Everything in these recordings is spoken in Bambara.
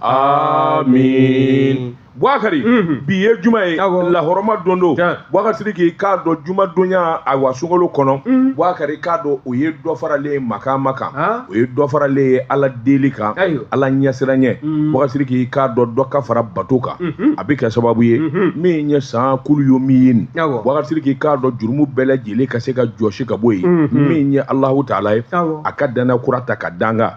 amin buakari mhm. bi ye juma ye lahɔrɔma don don buakari sidiki k'a dɔn juma donya awa sunkalo kɔnɔ mhm. buakari k'a dɔn o ye dɔ faralen ye makama kan o ye dɔ faralen ye ala deli kan ala ɲɛsiranyɛ mhm. buakari sidiki k'a dɔn dɔ ka fara bato kan a bɛ kɛ sababu ye min ye san kulu yo min ye nin buakari sidiki k'a dɔn jurumu bɛɛ lajɛlen ka se ka jɔsi ka bɔ yen min ye alahu taala ye a ka dana kura ta ka danga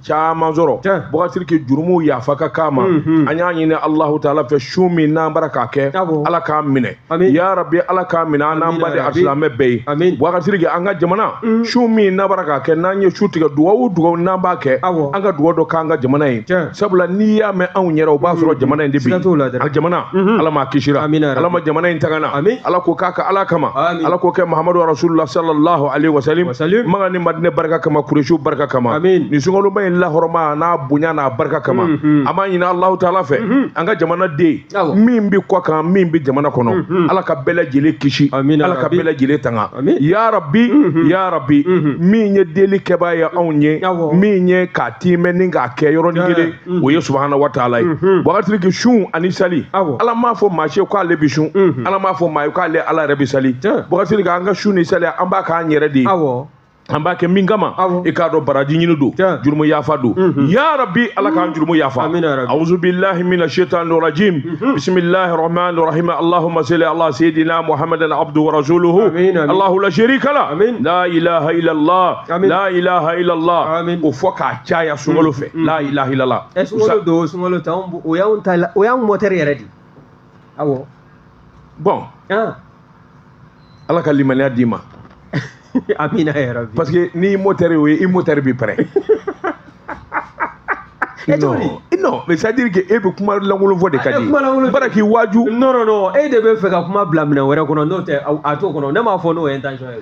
caman sɔrɔ buakari sidiki jurumuw yafa ka k'an ma mhm. an y'a ɲini alahu taala fɛ sun min n'an b'a ra k'a kɛ ala k'a minɛ ya rabi ala k'a minɛ an n'an baden alisilamɛ bɛɛ ye buakari sidiki an ka jamana mhm. sun min n'an b'a ra k'a kɛ n'an ye sun tigɛ dugawu dugawu n'an b'a kɛ an ka dugawu dɔ k'an ka jamana ye sabula n'i y'a mɛn anw yɛrɛ o b'a sɔrɔ mhm. jamana in de bi a jamana ala ma kisira ala ma jamana in tangana ala k'o k'a ka ala kama ala k'o kɛ mahamadu rasulula sallallahu alaihi wasallam madinɛ barika kama kuresiw barika kama amin nin sunkaloba in lahɔrɔma n'a bonya n'a barika kama mm -hmm. an b'a ɲini alahu taala fɛ mm -hmm. an ka jamana den min bɛ kɔ kan min bɛ jamana kɔnɔ mm -hmm. ala ka bɛɛ lajɛlen kisi amin ala ka bɛɛ lajɛlen tanga amin ya rabi mm -hmm. ya rabi mm -hmm. min ye deli kɛbaa ye anw ye min ye k'a tiimɛ ni k'a kɛ yɔrɔnin kelen o ye subahana wa taala ye buakari sidiki sun ani sali ala m'a fɔ maa si ye k'ale bi sun ala m'a fɔ maa ye k'ale ala yɛrɛ bi sali buakari sidiki an ka sun ni sali an b'a k'an yɛrɛ de ye an b'a kɛ min kama i k'a dɔn baraji ɲini don jurumu yafa don ya rabi ala k'an jurumu yafa auzu billahi mina shaitan rajim bismillahi rahman rahim allahumma salli ala sayyidina muhammadan abdu wa rasuluhu allahu la sharika la la ilaha illallah la ilaha illallah o fɔ k'a caya sunkalo fɛ mm-hmm. la ilaha illallah ɛ eh, sunkalo don sunkalo tɛ anw o y'anw ta o y'anw mɔtɛri yɛrɛ de awɔ bɔn ah. ala ka limaniya d'i ma amina ya rabi parce que n'i mɔtɛri o ye i mɔtɛri bi pɛrɛ eh, non non mais c'est à dire que e bɛ kuma lankolon fɔ de ka di b'a ra k'i waaju non non non e de bɛ fɛ ka kuma bila minɛn wɛrɛ kɔnɔ n'o tɛ a t'o kɔnɔ ne m'a fɔ n'o ye intention ye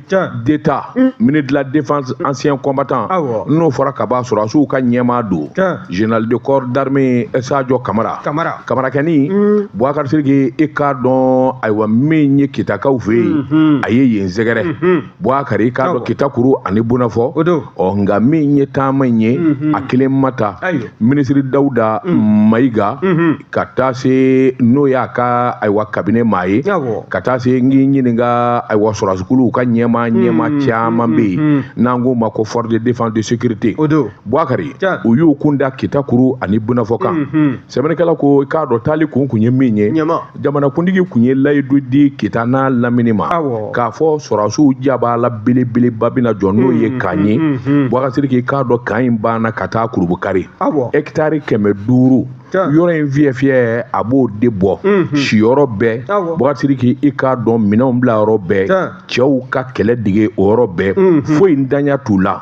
d'État ministre de la défense ancien combattant n'o fɔra ka ban sɔrɔdasiw ka ɲɛmaa don général de corps d'armée Sadio Kamara Kamara Kamarakɛni mm. Bouakar Sidiki i k'a dɔn ayiwa min ye kitakaw fɛ yen mm-hmm. a ye yen sɛgɛrɛ mm-hmm. Bouakar i k'a dɔn kita kuru ani bonafɔ ɔ nka min ye taama in ye mm-hmm. a kelen ma taa minisiri Dawuda Mayiga ka taa se n'o y'a ka ayiwa kabine maa ye ka taa se n k'i ɲininka ayiwa sɔrɔsikuluw ka ɲɛmaa hmm, ɲɛmaa hmm, caman bɛ yen hmm, n'an k'o ma ko force de défense de sécurité Bouakari u y'u kun da kita kuru ani bunafɔ kan sɛbɛnnikɛla ko i k'a dɔn taali kun kun ye min ye jamanakuntigi kun ye layidu di kita n'a lamini ma k'a fɔ sɔrɔsiw jaba la belebeleba bɛna jɔ n'o ye camp ye Bouakari Sidiki i k'a dɔn camp in banna ka taa kɔrɔ Bouakari ɛkitari kɛmɛ duuru yɔrɔ in fiyɛ fiyɛ a b'o de bɔ mhm. siyɔrɔ bɛɛ Bouakari Sidiki i k'a dɔn minɛnw bila yɔrɔ bɛɛ cɛw ka kɛlɛ dege o yɔrɔ bɛɛ mhm. foyi ntanya t'u la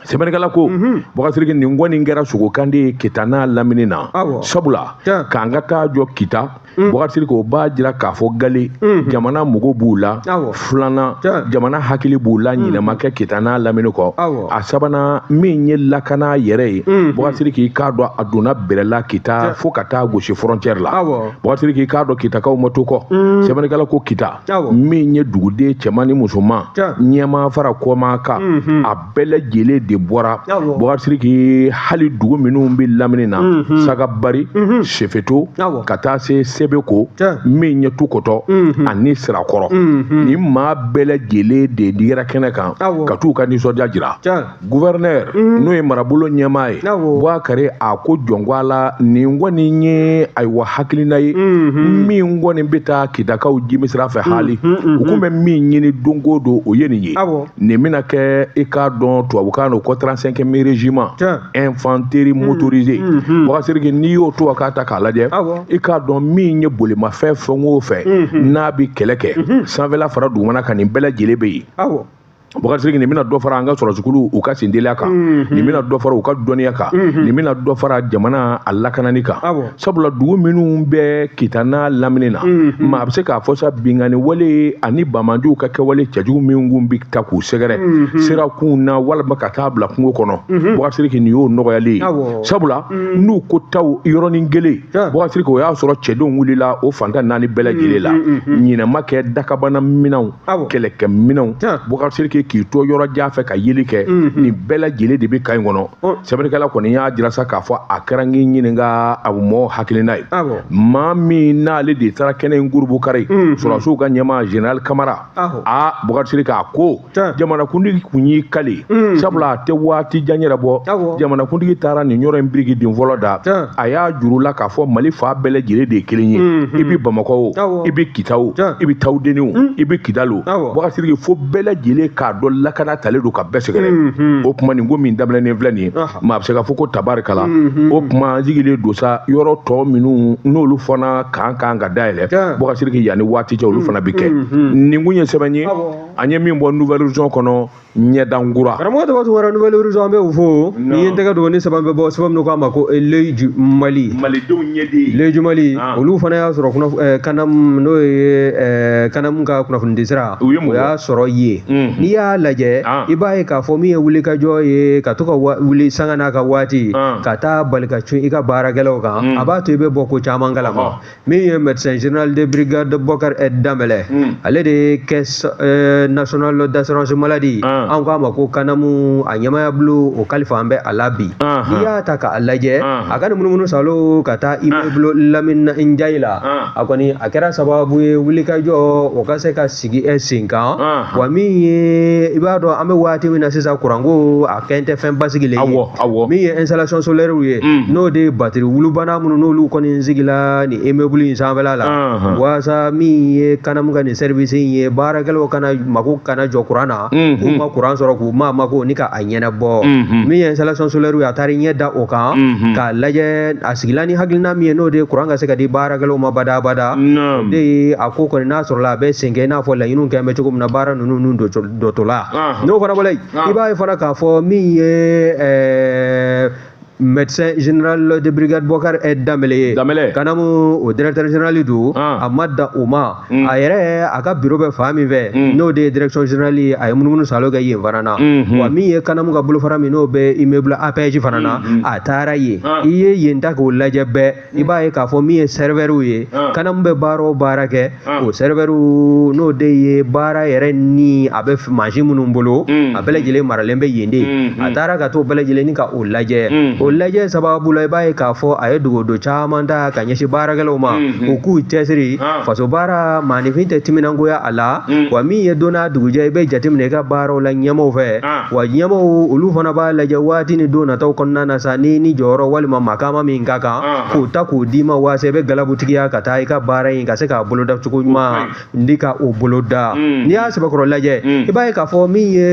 sɛbɛnnikɛla ko mhm. Bouakari Sidiki nin kɔni kɛra sogokande ye kita n'a lamini na sabula camp ka taa jɔ kita Mm. Bouakari Sidiki o b'a jira k'a fɔ galɛ mm. jamana mago b'u la filanan jamana hakili b'u la mm. ɲinɛ ma kɛ kita n'a lamini kɔ a sabanan min ye lakana yɛrɛ ye Bouakari Sidiki i k'a dɔn a donna bɛrɛla kita fo ka taa gosi frontière la Bouakari Sidiki i k'a dɔn kitakaw ma to kɔ sɛbɛnnikɛla ko kita min ye duguden cɛman ni musoman ɲɛmaa fara kɔmaa kan mm-hmm. bɛɛ lajɛlen de bɔra Bouakari Sidiki hali dugu minnu bɛ lamini na mhm. sagabari mhm. sefeto ka taa se sebeko min ɲɛ tukɔtɔ mhm. ani sirakɔrɔ nin maa bɛɛ lajɛlen de digira kɛnɛ kan ka t'u ka nisɔndiya jira guvɛrɛnɛri n'o ye marabolo ɲɛmaa ye Bouakari a ko jɔn ko Ala nin kɔni ye ayiwa hakilina ye min kɔni bɛ taa kitakaw jimi sira fɛ hali u tun bɛ min ɲini don o don o ye nin ye nin bɛna kɛ i k'a dɔn tubabukan don ko 35ème régiment infanterie hmm. motorisé hmm. Bouakari Sidiki n'i y'o tubabukan ta k'a lajɛ i k'a dɔn min ye bolimafɛn fɛn o fɛn hmm. n'a bɛ kɛlɛ kɛ sanfɛla fara dugumana kan nin bɛɛ lajɛlen bɛ yen Bouakari Sidiki nin bɛna dɔ fara an ka sɔrɔsikulu u ka senteliya kan nin bɛna dɔ fara u ka dɔnniya kan nin bɛna dɔ fara jamana a lakanani kan sabula dugu minnu bɛ kita n'a lamini na maa bɛ se k'a fɔ sa binkanni wale ani bamajuw ka kɛwale cɛjugu min kun bɛ taa k'u sɛgɛrɛ sira kun na walima ka taa bila kungo kɔnɔ Bouakari Sidiki nin y'o nɔgɔyalen ye sabula n'u ko taw yɔrɔnin kelen Bouakari Sidiki o y'a sɔrɔ cɛdenw wulila o fan tan naani bɛɛ lajɛlen la ɲinɛ ma kɛ dakabana minɛnw kɛlɛkɛ minɛnw Bouakari Sidiki k'i to yɔrɔ jan fɛ ka yeli kɛ nin bɛɛ lajɛlen de bɛ camp in kɔnɔ sɛbɛnnikɛla kɔni y'a jira sa k'a fɔ a kɛra n k'i ɲininka a mɔ hakilina ye maa min n'ale de taara kɛnɛ in kɔrɔ Bouakari mm-hmm. sɔrɔdasiw ka ɲɛmaa général kamara a Bouakari Sidiki a ko jamanakuntigi kun y'i kali mm-hmm. sabula a tɛ waati jan yɛrɛ bɔ jamanakuntigi taara nin yɔrɔ in birikiden fɔlɔ da a y'a jir'u la k'a fɔ mali fan bɛɛ lajɛlen de ye kelen ye mm-hmm. i bɛ bamakɔ o i bɛ kita o i bɛ tawudeni o i bɛ kidali o Bouakari Sidiki fo bɛɛ lajɛlen k'a dɔn lakana talen don ka bɛɛ sɛgɛrɛ o kuma nin ko min daminɛnen filɛ nin ye maa bɛ se ka fɔ ko tabarikala o tuma an sigilen don sa yɔrɔ tɔ minnu n'olu fana ka kan ka dayɛlɛ bɔka siriki yanni waati cɛ olu fana bɛ kɛ nin kun ye sɛbɛn ye an ye min bɔ nouvel horizon kɔnɔ ɲɛdankura karamɔgɔ tɔgɔ tun wɛrɛ nouvel horizon an bɛ u fo n'i ye n tɛgɛ don ni sɛbɛn bɛ bɔ sɛbɛn min k'a ma ko leju mali malidenw ɲɛden leju mali olu fana y'a sɔrɔ kanamu n'o ye kanamu ka kunnafonidisira u ye mun y'a sɔrɔ ye n'i y'a lajɛ i b'a ye k'a fɔ min ye wulikajɔ ye ka to ka wuli sanga n'a ka waati ka taa bali ka cun i ka baarakɛlaw kan a b'a to i bɛ bɔ ko caman kalama min ye médecin général de brigade Bokar ɛ Dambélé ale de ye caisse nationale d'assurance maladie an k'a ma ko kanamu a ɲɛmaya bolo o kalifa an bɛ a la bi n'i y'a ta k'a lajɛ a ka ni munumunu salo ka taa immeuble Lamini Njayi la a kɔni a kɛra sababu ye wulikajɔ o ka se ka sigi e sen kan wa min ye i b'a dɔn an bɛ waati min na sisan kuranko a kɛn tɛ fɛn basigilen ye min ye installation solaire ye mm. n'o de ye batiri wulubana minnu n'olu kɔni sigila nin immeuble in sanfɛla la waasa min ye kanamu ka nin service in ye baarakɛlaw kana mako kana jɔ kuran na k'u ma kuran sɔrɔ k'u ma mako ni ka ɲɛnabɔ min ye installation solaire ye a taara i ɲɛ da o kan k'a lajɛ a sigila ni hakilina min ye n'o de ye kuran ka se ka di baarakɛlaw ma badabada o de ye a ko kɔni n'a sɔrɔla a bɛ sen kɛ i n'a fɔ laɲiniw kɛn bɛ cogo min na baara ninnu n'u dɔtɔla n'o fana bɔla yen i b'a ye fana k'a fɔ min ye médecin général de brigade Bokar ɛ Dambélé kanamu o directeur général don ah. a ma dan o ma mm. a yɛrɛ a ka bureau bɛ fan min fɛ mm. n'o de ye direction générale ye a ye munumunu salo kɛ yen fana na mm-hmm. wa min ye kanamu ka bolofara min n'o bɛ immeuble APEJ fana na mm-hmm. a taara yen ah. i ye yen ta k'o lajɛ bɛɛ i b'a ye k'a fɔ min ye serveurw ye kanamu bɛ baara o baara kɛ o serveur n'o de ye baara yɛrɛ ni a bɛ mansin minnu bolo a bɛɛ lajɛlen maralen bɛ yen de a taara ka to bɛɛ lajɛlen ka o lajɛ o lajɛ sababu la i b'a ye k'a fɔ a ye dogodo caman ta ka ɲɛsin baarakɛlaw ma u k'u cɛsiri faso baara maaninfin tɛ timinangoya a la wa min ye don n'a dugujɛ i bɛ jateminɛ i ka baaraw la ɲɛmaw fɛ wa ɲɛmaw olu fana b'a lajɛ waati ni don nataw kɔnɔna na sa ni ni jɔyɔrɔ walima makaama min ka kan k'o ta k'o d'i ma waasa i bɛ galabutigiya ka taa i ka baara in ka se k'a boloda cogo ɲuman ni ka o boloda n'i y'a sɛbɛkɔrɔ lajɛ i b'a ye k'a fɔ min ye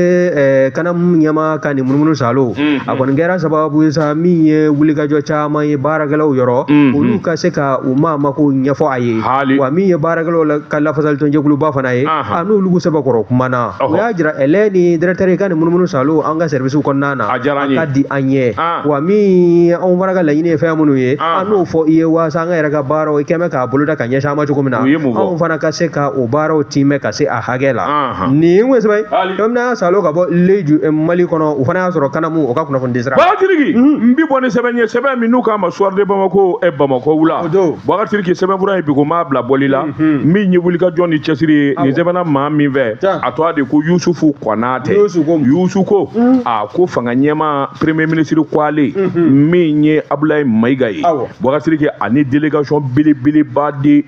kanamu ɲɛma ka nin munumunu salo a kɔni kɛra sababu ye sa min ye wulikajɔ caman ye baarakɛlaw yɔrɔ olu ka se ka u maamako ɲɛfɔ a ye wa min ye baarakɛlaw ka lafasalitɔnjɛkuluba fana ye a n'olu sɛbɛkɔrɔ kumana u y'a jira ɛlɛ ni directeur ka nin munumunu saalo an ka service kɔnɔna na a ka di an ye wa min anw fana ka laɲini ye fɛn minnu ye an n'o fɔ i ye waasa an ka yɛrɛ ka baaraw i kɛlen bɛ k'a boloda ka ɲɛsin an ma cogo min na anw fana ka se ka o baaraw tiimɛ ka se a hakɛ la nin ko sɛbɛn bamana salo ka bɔ leju eh, mali kɔnɔ u fana y'a sɔrɔ kanamu o ka kunnafoni di sira bubakari sidiki mhm. n bi bɔ ni sɛbɛn ye sɛbɛn min n'u k'a ma soir de bamako eh, bamakɔ wula bubakari sidiki sɛbɛnfura ye bi ko m'a bila bɔli la Hmm. min ye wulikajɔ ni cɛsiri ye nin sɛbɛnna maa min fɛ a tɔgɔ de ko yusufu konatɛ yusu ko hmm. a ko fanga ɲɛmaa premier ministre ko ale hmm. min ye abulayi mayiga ye bubakari sidiki ani délégation belebeleba de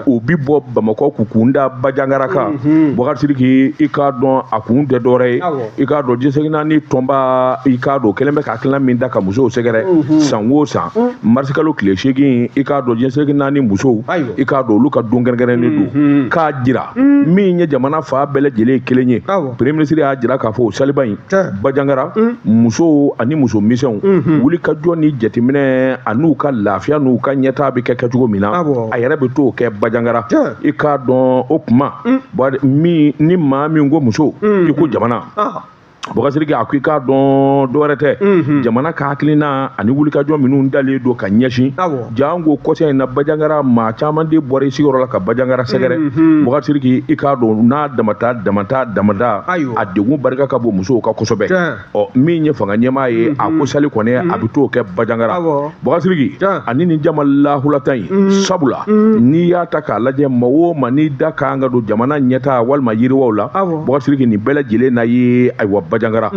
o bi bɔ bamakɔ k'u kun da bajangara kan bubakari sidiki i k'a dɔn a kun tɛ dɔwɛrɛ ye i k'a dɔn diɲɛ seleke naani tɔnba i k'a dɔn kɛlen bɛ ka hakilina min da ka musow sɛgɛrɛ mhm. san o san mhm. marisikalo tile seegin i k'a dɔn diɲɛ seleke naani musow i k'a dɔn olu ka don kɛrɛnkɛrɛnnen don mhm. k'a jira min ye jamana fan bɛɛ lajɛlen ye kelen ye premier ministre y'a jira k'a fɔ o saliba in bajangara musow ani muso misɛnw wulikajɔ ni jateminɛ an'u ka lafiya n'u ka ɲɛtaa bɛ kɛ kɛcogo min na a yɛrɛ bɛ t'o kɛ bajangara i k'a dɔn o kuma min ni maa min ko muso i ko jamana bubakari sidiki a ko i k'a dɔn dɔwɛrɛ tɛ jamana ka hakilina ani wulikajɔ minnu dalen don ka ɲɛsin janko kɔsa in na bajangara maa caman de bɔra i sigiyɔrɔ la ka bajangara sɛgɛrɛ bubakari sidiki i k'a dɔn n'a damata damata damada a degun barika ka bon musow kan kosɛbɛ ɔ min ye fanga ɲɛmaa ye a ko sali kɔni a bɛ t'o kɛ bajangara bubakari sidiki ani nin jama lahulata in sabula n'i y'a ta k'a lajɛ maa o maa n'i da kan ka don jamana ɲɛtaa walima yiriwaw la bubakari sidiki nin bɛɛ lajɛlen na ye ayiwa bajangara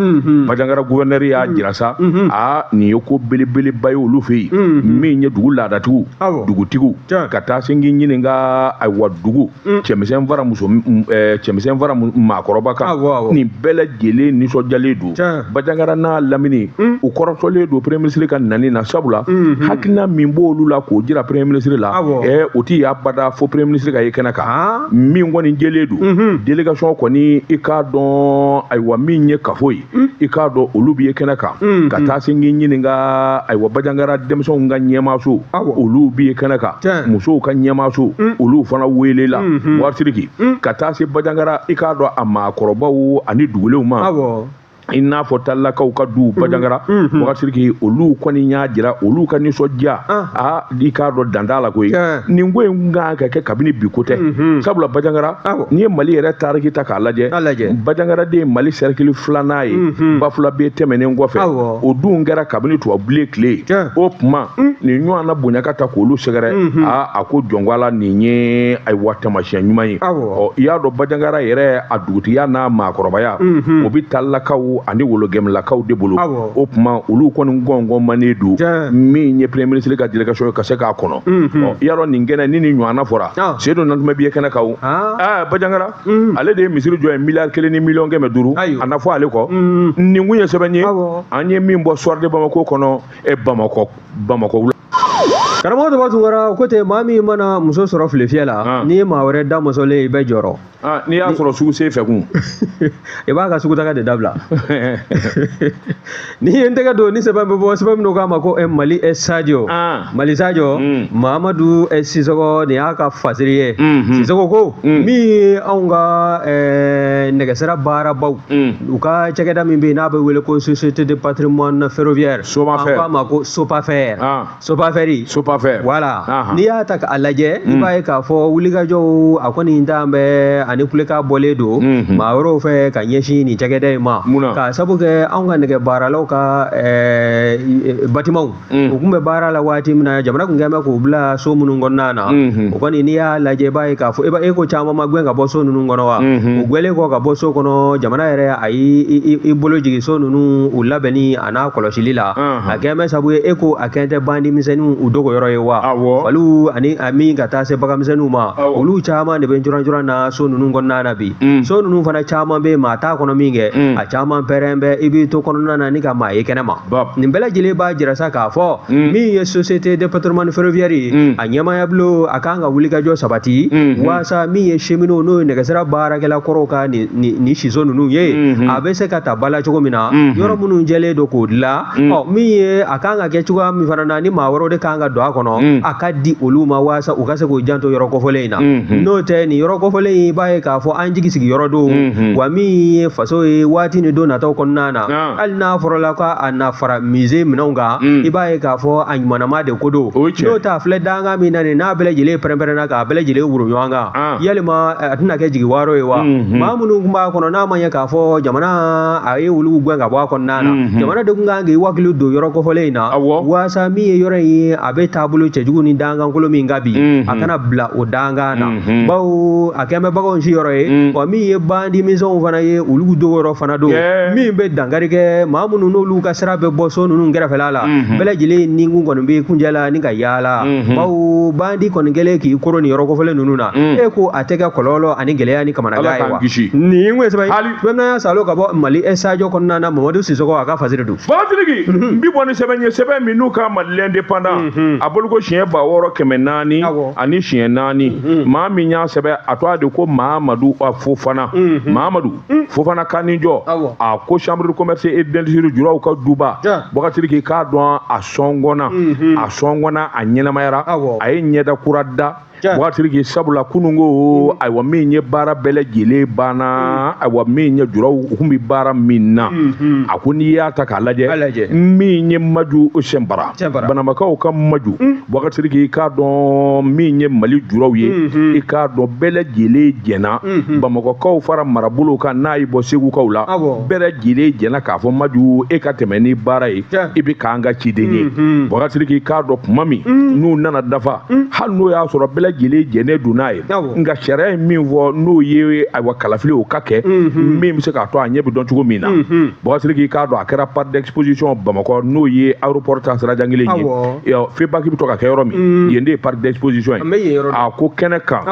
bajangara gouverneur y'a jira sa a nin ye ko belebeleba ye olu fɛ yen min ye dugu laadatigiw dugutigiw ka taa se k'i ɲininka ayiwa dugu mm. cɛmisɛn fara muso eh, cɛmisɛn fara maakɔrɔba kan ah, nin bɛɛ lajɛlen nisɔndiyalen don bajangara n'a lamini mm. u kɔrɔtɔlen don premier ministre ka nani na sabula mm-hmm. hakilina min b'olu la k'o jira premier ministre la ah, eh, o tɛ ye abada fo premier ministre ka ye kɛnɛ kan ah. min kɔni jɛlen don mm-hmm. délégation kɔni i k'a dɔn ayiwa min ye kafo ye hmm. i k'a dɔn olu bi ye kɛnɛ kan hmm, ka hmm. taa se k'i ɲininka ayiwa bajangara denmisɛnw ka ɲɛmaaso olu bi ye kɛnɛ kan musow ka ɲɛmaaso olu fana welela bubakari sidiki ka taa se bajangara i k'a dɔn a maakɔrɔbaw ani dugulenw ma i n'a fɔ talilakaw ka du bajangara bubakari sidiki olu kɔni y'a jira olu ka nisɔndiya ah. aa ah, i k'a dɔn dan t'a la koyi nin ko in kan ka kɛ kabini bi ko tɛ sabula bajangara n'i ye mali yɛrɛ tariki ta k'a lajɛ bajangara de ye mali sɛrikili filanan ye bafulabe tɛmɛnen kɔfɛ o dun kɛra kabini tubabubilen tile ye o tuma nin ɲɔgɔnna bonya ka taa k'olu sɛgɛrɛ aa a ko jɔn ko ala nin ye ayiwa tamasiyɛn ɲuman ye ɔ i y'a dɔn bajangara yɛrɛ a dugutigiya n'a maakɔrɔbaya o bɛ talakaw ani wologɛmlakaw de bolo o tuma olu kɔni gɔngɔn manen don min ye premier ministre ka délégation ye ka se k'a kɔnɔ i y'a dɔn nin kɛnɛ ni nin ɲɔgɔnna fɔra ah. sedu nantumɛ bi ye kɛnɛ kan o ah. ah, bajangara mm. ale de ye misiri jɔ yen miliyari kelen ni miliyɔn kɛmɛ duuru a na fɔ ale kɔ mm. nin kun ye sɛbɛn ye an ye min bɔ soir de bamako kɔnɔ e bamakɔ bamakɔ wula karamɔgɔ dɔ b'a tun kɔrɔ ko ten maa min mana muso sɔrɔ filefiyɛ la n'i ye maa wɛrɛ da mɔsɔlen i bɛ jɔrɔ Ah, n'i y'a sɔrɔ sugu sen fɛ kun i b'a ka sugutaga de dabila n'i ye n tɛgɛ don ni sɛbɛn bɛ bɔ sɛbɛn min k'a ma ko eh, mali eh, sajo ah. mali sajo mm. mamadu eh, sisɔgɔ nin y'a ka fasiri ye mm-hmm. sisɔgɔ ko mm. min ye anw ka nɛgɛsira baarabaw mm. u ka cakɛda min bɛ yen n'a bɛ wele ko société de patrimoine ferroviaire an k'a ma ko sopafɛr ah. sopafɛri sopafɛ voilà n'i y'a ta k'a lajɛ i hmm. b'a ye k'a fɔ wulikajɔw a kɔni dan bɛ ani kulekan bɔlen don hmm, hmm. maa wɛrɛw fɛ ka ɲɛsin nin cakɛda in ma k'a sabu kɛ anw ka nɛgɛ baaralaw ka batimaw u tun bɛ baara la waati min na jamana tun kɛn bɛ k'u bila so minnu kɔnɔna na o kɔni n'i y'a lajɛ i b'a ye k'a fɔ e ko camanba gɛn ka bɔ so ninnu kɔnɔ wa u gwɛlen kɔ ka bɔ so kɔnɔ jamana yɛrɛ a y'i bolo jigin so ninnu u labɛnni an'a kɔlɔsili la a kɛn bɛ sabu ye e ko a kɛ tɛ bandi misɛnninw u dogo yɔrɔ ye wa faliw ani a min ka taa se baganmisɛnninw ma olu caman de bɛ jɔrɔn na so ninnu kɔnɔna na bi mm. so ninnu fana caman bɛ maa t'a kɔnɔ min kɛ mm. a caman pɛrɛn bɛ i b'i to kɔnɔna na ni ka maa ye kɛnɛ ma nin bɛɛ lajɛlen b'a jira sa k'a fɔ mm. min ye société de patrimoine ferroviaire ye a ɲɛmaaya bulon a kan ka wulikajɔ sabati waasa min ye cheminots n'o ye nɛgɛsira baarakɛla kɔrɔw ka nin ni siso ninnu ye mhm. a bɛ se ka ta ba la cogo min na mhm. yɔrɔ minnu cɛnlen don k'o dilan mhm. ɔ min ye a kan ka kɛ cogoya min fana na ni maa wɛrɛw de kan ka don a kɔnɔ a ka di olu ma walasa u ka se k'u janto yɔrɔ kofɔlen in na n'o tɛ nin yɔrɔ kofɔlen in i b'a ye k'a fɔ an jigi sigi yɔrɔ don wa min ye faso ye waati ni don nataw kɔnɔna na ah. hali n'a sɔrɔla ko a na fara musée minɛnw kan i b'a ye k'a fɔ a ɲumanama de ko don n'o tɛ a filɛ danga min na nin n'a bɛɛ lajɛlen pɛrɛn-pɛrɛnna k'a bɛɛ lajɛlen woro ɲɔgɔn kan ah. yalima eh, a tɛna kɛ jigiwaaro ye wa mhm. maa minnu tun b'a kɔnɔ n'a ma ɲɛ k'a fɔ jamana a ye olu gɛn ka bɔ a kɔnɔna na mhm. jamana de tun kan k'i wakili don yɔrɔ kofɔlen in na waasa min ye yɔrɔ in ye a bɛ taabolo cɛjugu ni dangankolo min kan bi mhm. a kana bila o dangan na bawo a kɛn bɛ baganw si yɔrɔ ye wa min ye bandi misɛnw fana ye olu dogo yɔrɔ fana don min bɛ dankari kɛ maa minnu n'olu ka sira bɛ bɔ so ninnu kɛrɛfɛla la bɛɛ lajɛlen ni kun kɔni bɛ kunjɛ la ni ka yaala bawo bandi kɔni kɛlen k'i koro ni yɔrɔ kofɔlen ninnu na e ko a tɛ kɛ kɔlɔlɔ ani gɛlɛya ni kamanagan ye wa nin ko sɛbɛn hali bɛɛ salo ka bɔ mali sajo kɔnɔna na mamadu sisɔgɔ a ka fasiri don batiriki n bi bɔ ni sɛbɛn ye sɛbɛn min n'u ka mali l'indépendant a bolo ko siɲɛ ba wɔɔrɔ kɛmɛ naani ani siɲɛ naani maa min y'a sɛbɛn a tɔgɔ de ko mamadu a fofana mamadu Mm. fofana ka ni jɔ a ko chambre de commerce et d'industrie juraw ka duba batiriki k'a dɔn a sɔngɔnna mm-hmm. a sɔngɔnna a ɲɛnamayara a ye ɲɛda kura da batiriki sabula kunun ko mm. ayiwa min ye baara bɛɛ lajɛlen banna mm. ayiwa min ye juraw u kun bɛ baara min na mm-hmm. a ko n'i y'a ta k'a lajɛ min ye maju sɛnbara banamakaw ka maju Batiriki i k'a dɔn min ye mali juraw ye i k'a dɔn bɛɛ lajɛlen jɛnna bamakɔkaw fara marabolo kan n'a ye bɔ segukaw la bɛɛ lajɛlen jɛnna k'a fɔ maju e ka tɛmɛ ni baara ye i bɛ k'an ka ciden ye batiriki i k'a dɔn kuma min n'u nana dafa hali n'o y'a sɔrɔ bɛɛ lajɛlen jɛnnen don n'a ye nka sariya ye min fɔ n'o ye ayiwa kalafili o ka kɛ min bɛ se k'a to a ɲɛ bɛ dɔn cogo min na batiriki k'a dɔn a kɛra parc d'exposition bamakɔ n'o ye aéroport ta sira jan kelen ye febak bɛ to ka kɛ yɔrɔ min yen de ye parc d'exposition ye a ko kɛnɛ kan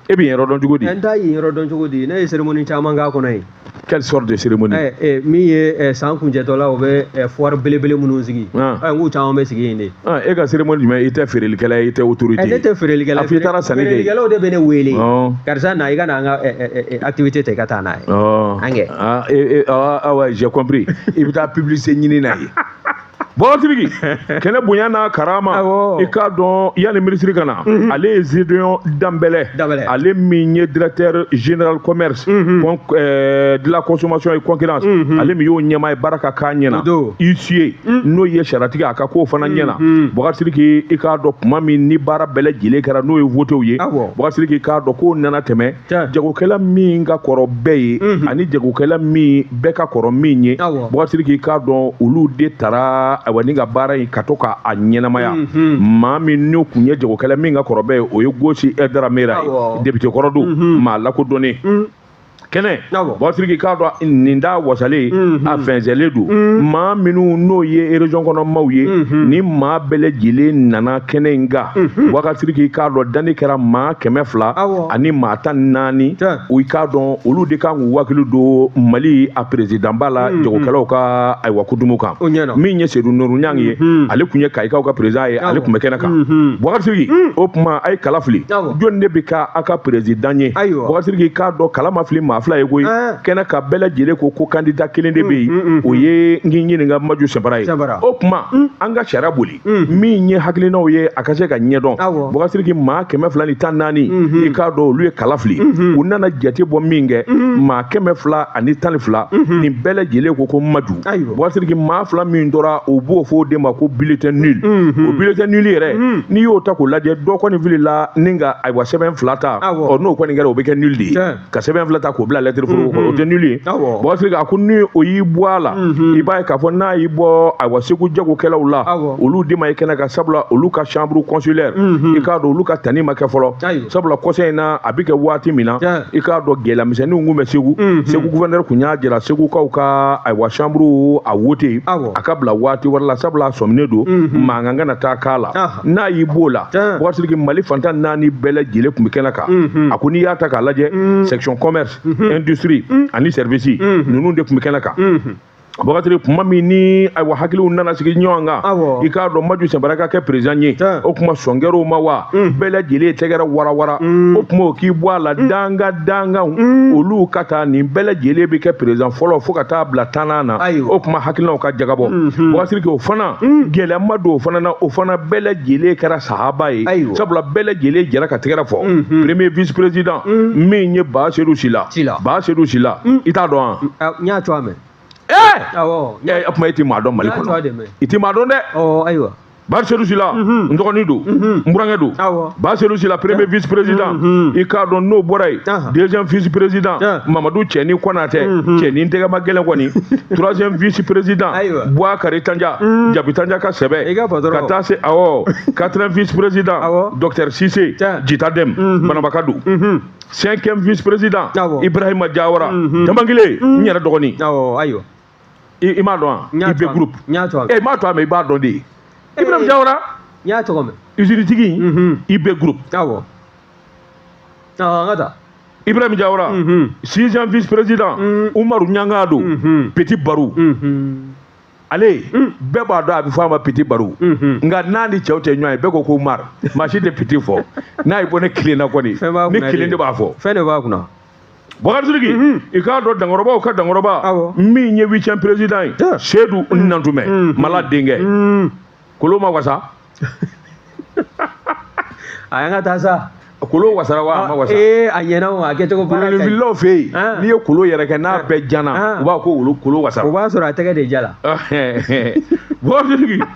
e bɛ yen yɔrɔ dɔn cogo di n t'a yɔrɔ dɔn cogo di ne ye cérémonie caman k'a kɔnɔ yen quelle sorte de cérémonie min ye san kuncɛtɔ la o bɛ foire belebele minnu sigi k'u caman bɛ sigi yen de e ka cérémonie jumɛn i tɛ feerelikɛla ye i tɛ autorité ne tɛ feerelikɛla i taara sanni kɛ feerelikɛlaw de bɛ ne wele karisa na i ka na an ka activité ta i ka taa n'a ye an kɛ awa j'ai compris i bɛ taa publicité ɲini na ye Batiriki kɛnɛ bonya n'a karama i k'a dɔn yanni minisiri ka na mhm. ale ye zediyɔn danbɛlɛ ale min ye directeur général commerce de la consommation et concurrence ale min y'o ɲɛmaa ye baara ka k'a ɲɛna huissier mhm. n'o ye sariyatigi a ka k'o fana mhm. ɲɛna batiriki i k'a dɔn kuma min ni baara bɛɛ lajɛlen kɛra n'o ye votew ye batiriki k'a dɔn k'o nana tɛmɛ jagokɛla min ka kɔrɔ bɛɛ ye mhm. ani jagokɛla min bɛɛ ka kɔrɔ min ye batiriki k'a dɔn olu de tara ayiwa ni ka baara in ka to k'a ɲɛnamaya mhm. maa min n'o kun ye jagokɛla min ka kɔrɔ bɛɛ ye o ye gosi daramera ye député kɔrɔ don mhm. maa lakodɔnnen kɛnɛ batiriki k'a dɔn nin da wasalen mhm. a fɛnsɛlen don mhm. maa minnu n'o ye région kɔnɔ maaw ye mhm. ni maa bɛɛ lajɛlen nana kɛnɛ in kan batiriki k'a dɔn danni kɛra maa kɛmɛ fila ani maa tan ni naani i k'a dɔn olu de kan k'u hakili don mali a perezidanba la hmm, hmm. jagokɛlaw ka ayiwa kutumu kan min ye sedu nuru ɲang ye hmm, ale kun ye kayikaw ka perezidan ye ale kun bɛ kɛnɛ kan bɔkasiriki o kuma a ye kala fili jɔni de bɛ kɛ a ka perezidan ye bɔkasiriki k'a dɔn kala ma fili maa fila ye koyi eh. kɛnɛ kan bɛɛ lajɛlen ko ko kandida kelen de bɛ yen o ye n k'i ɲininka maju sinpara ye o kuma an ka sariya boli min ye hakilinaw ye a ka se ka ɲɛ dɔn bɔkasiriki maa kɛmɛ fila ni tan naani i k'a dɔn olu ye kala fili u nana jate bɔ min kɛ maa kɛmɛ fila ani tan ni fila nin bɛɛ lajɛlen ko ko maju bɔkasiriki maa fila min tora u b'o fɔ o de ma ko bulletin nul o bulletin nul yɛrɛ n'i y'o ta k'o lajɛ dɔ kɔni filila ni ka ayiwa sɛbɛn fila ta ɔ n'o kɔni kɛra o bɛ kɛ nul de ye ka sɛbɛn fila ta k'o bila lɛtiri foroko kɔnɔ o tɛ nul ye bɔkasiriki a ko ni o y'i bɔ a la i b'a ye k'a fɔ n'a y'i bɔ ayiwa segu jagokɛlaw la olu de ma ye kɛnɛ kan sabula olu ka chambre consulaire i k'a dɔn olu ka ta nin ma kɛ fɔlɔ sabula conseil in na a bɛ kɛ waati min na i k'a dɔn gɛlɛyamisɛnninw kun bɛ segu segu gouverneur kun y'a jira segukaw ka ayiwa chambre a wote a ka bila waati wɛrɛ la sabula a sɔminen don mankan kana taa k'a la n'a y'i b'o la bɔkasiriki mali fan tan naani bɛɛ lajɛlen kun bɛ kɛnɛ kan mhm. a ko n'i y'a ta k'a lajɛ mhm. section commerce mhm. industrie ani service ninnu de kun bɛ kɛnɛ kan Bakari kuma min ni ayiwa hakiliw nana sigi ɲɔgɔn kan i k'a dɔn maju sinpara ka kɛ perezidan ye o kuma sɔn kɛra o ma wa mm. bɛɛ lajɛlen ye tɛgɛrɛ warawara mm. o kuma o k'i bɔ a la mm. dankan dankanw olu ka ta nin bɛɛ lajɛlen bɛ kɛ perezidan fɔlɔ fo ka taa bila tannan na o kuma hakilinaw ka jagabɔ Bakari mm-hmm. o fana hmm. gɛlɛya ma don o fana na o fana bɛɛ lajɛlen kɛra sahaba ye sabula bɛɛ lajɛlen jɛra ka tɛgɛrɛ fɔ hmm. premier vice président hmm. min ye ba sedu sila ba sedu sila i t'a dɔn wa ah, n y'a tɔgɔ mɛn ɛɛ o tuma e ti maa dɔn mali kɔnɔ i ti maa dɔn dɛ ayiwa ba sedu sila n dɔgɔnin don n burankɛ don Ba Sedu Sila premier vice président i k'a dɔn n'o bɔra yen deuxième vice président Mamadu Cɛni Konatɛ Cɛni tɛgɛ ma gɛlɛn kɔni troisième vice président Buakari Tanja Jabi Tanja ka sɛbɛ ka taa se awɔ quatrième vice président docteur Sise Jita Dɛm Bananbaka don cinquième vice président Ibrahima Diawara Danbangile n yɛrɛ dɔgɔnin. i m'a dɔn wa IBI groupe n y'a tɔgɔ mɛn e m'a tɔgɔ mɛn i b'a dɔn dɛ Ibrahim Diawara n y'a tɔgɔ mɛn usine tigi IBI groupe awɔ an ka taa Ibrahim Diawara sixième vice président Umaru Ɲangadu petit Baru ale bɛɛ b'a dɔn a bɛ fɔ a ma petit Baru nka n'a ni cɛw tɛ ɲɔgɔn ye bɛɛ ko ko Umaru maa si tɛ petit fɔ n'a y'a bɔ ne kelen na kɔni ne kelen de b'a fɔ fɛn de b'a kunna bakari sidiki i k'a dɔn dankɔrɔbaw ka dankɔrɔba min ye huitième président ye sedu nantumɛ mala denkɛ kolo ma wasa a y'an ka taa sa kolo wasara wa a ma wasa ee a ɲɛna o a kɛcogo baara ka ɲi wulililaw fɛ yen n'i ye kolo yɛrɛ kɛ n'a bɛɛ jana u b'a ko wolo kolo wasara o b'a sɔrɔ a tɛgɛ de jala bakari sidiki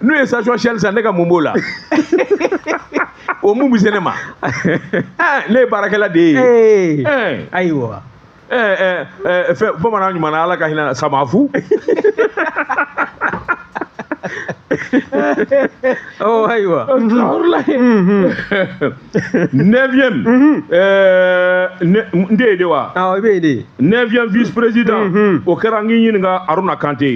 n'u ye station Shell san ne ka mun b'o la o mun bɛ se ne ma ne ye baarakɛla de ye ayiwa fɛn bamanan ɲuman na ala ka hinɛ samafu ayiwa neuvième mhm. euh, n de ye de wa awɔ i bɛ yen de neuvième vice président mhm. o kɛra n k'i ɲininka aruna kante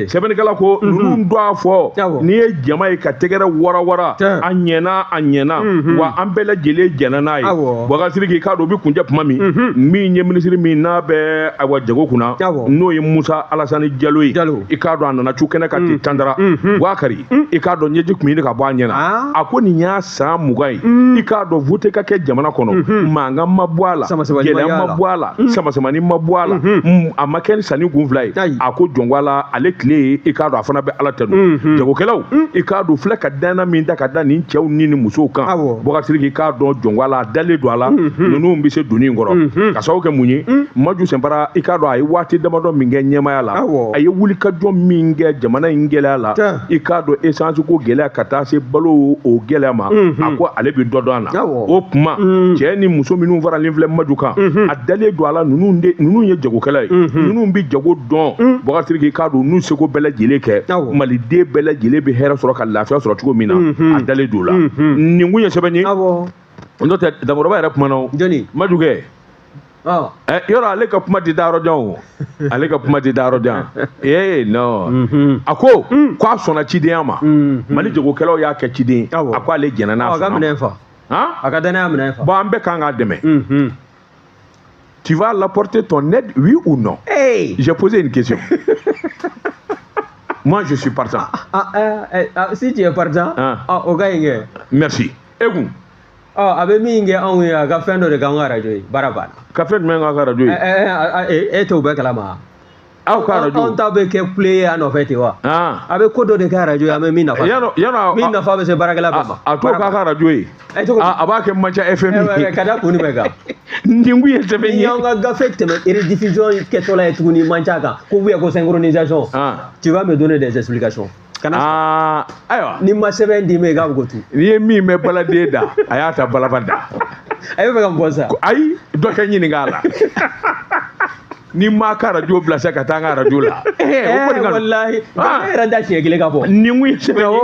sɛbɛnnikɛla ko mhm. ninnu tɔgɔ fɔlen ye jama ye ka tɛgɛrɛ warawara a ɲɛna a ɲɛna wa an bɛɛ lajɛlen jɛnna n'a ye bakari sidiki k'a dɔn o bɛ kuncɛ tuma min min ye minisiri min n'a bɛ ayiwa jago kunna n'o ye musa alasani jalo ye i k'a dɔn a nana cun kɛnɛ kan ten tandara bakari i k'a dɔn ɲɛji tun ye ka bɔ a ɲɛna ah. a ko nin y'a san mugan ye mm. i k'a dɔn vote ka kɛ jamana kɔnɔ mm-hmm. mankan ma bɔ a la gɛlɛya ma bɔ a la mm. samasamani ma bɔ a la mm-hmm. mm, a ma kɛ ni sanni kun fila ye a ko jɔnko a la ale tile ye i k'a dɔn a fana bɛ ala tanu mm-hmm. jagokɛlaw i k'a dɔn filɛ ka danna min da ka da nin cɛw ni nin musow kan bakari sidiki k'a dɔn jɔnko a la a dalen don a la ninnu bɛ se donni in kɔrɔ ka sababu kɛ mun ye maju sinpara i k'a dɔn a ye waati damadɔ min kɛ ɲɛmaaya la a ye wulikajɔ min kɛ jamana in gɛlɛya la i k'a dɔn essence ko gɛlɛya ka taa se balo ko gɛlɛya ma mhm. a ko ale bɛ dɔ dɔn a la o tuma mhm. cɛ ni muso minnu faralen filɛ maju kan mhm. a dalen don a la ninnu de ninnu ye jagokɛla ye ninnu bɛ jago dɔn bakari sidiki k'a dɔn n'u seko bɛɛ lajɛlen kɛ maliden bɛɛ lajɛlen bɛ hɛrɛ sɔrɔ ka lafiya sɔrɔ cogo min na a dalen don o la nin kun ye sɛbɛn ye n'o tɛ Dankɔrɔba yɛrɛ kumana o maju kɛ yɔrɔ ale ka kuma tɛ taa yɔrɔ jan o ale ka kuma tɛ taa yɔrɔ jan ee non mhm. a ko mm. ko a sɔnna cidenya ma mhm. mali jagokɛlaw y'a kɛ ciden a ko ale jɛnna n'a sɔnna a ka dannaya minɛ fa bon an bɛɛ kan k'a dɛmɛ mhm. tu vas l'apporter ton aide oui ou non hey. j'ai posé une question moi je suis partant ah, ah, eh, eh, ah, si tu es partant ah. ah, o ka ɲi merci e kun ɔ a bɛ min kɛ anw ye a ka fɛn dɔ de k'an ka arajo ye baara banna ka fɛn jumɛn k'an ka arajo ye e t'o bɛɛ kalama aw ka arajo anw ta bɛ kɛ kule ye a nɔfɛ ten wa a bɛ ko dɔ de kɛ arajo ye an bɛ min nafa min nafa bɛ se baarakɛla bɛɛ ma a t'o k'a ka arajo ye a b'a kɛ manca fm ye ka da kun jumɛn kan nin kun ye sɛbɛn ye y'an ka gafe tɛmɛ rediffusion kɛtɔla ye tuguni manca kan ko ko synchronisation tu vas me donner des explications kana ah, ayiwa ni ma sɛbɛn d'i ma i k'a bɛ ko tu n'i ye min mɛn baladen da a y'a ta balaba da a bɛ fɛ ka mɔgɔ sa ayi dɔ kɛ ɲininka a la ni ma ka arajo bila sa ka taa n ka arajo la walahi ne yɛrɛ da siɲɛ kelen ka bɔ nin kun ye sɛbɛn ye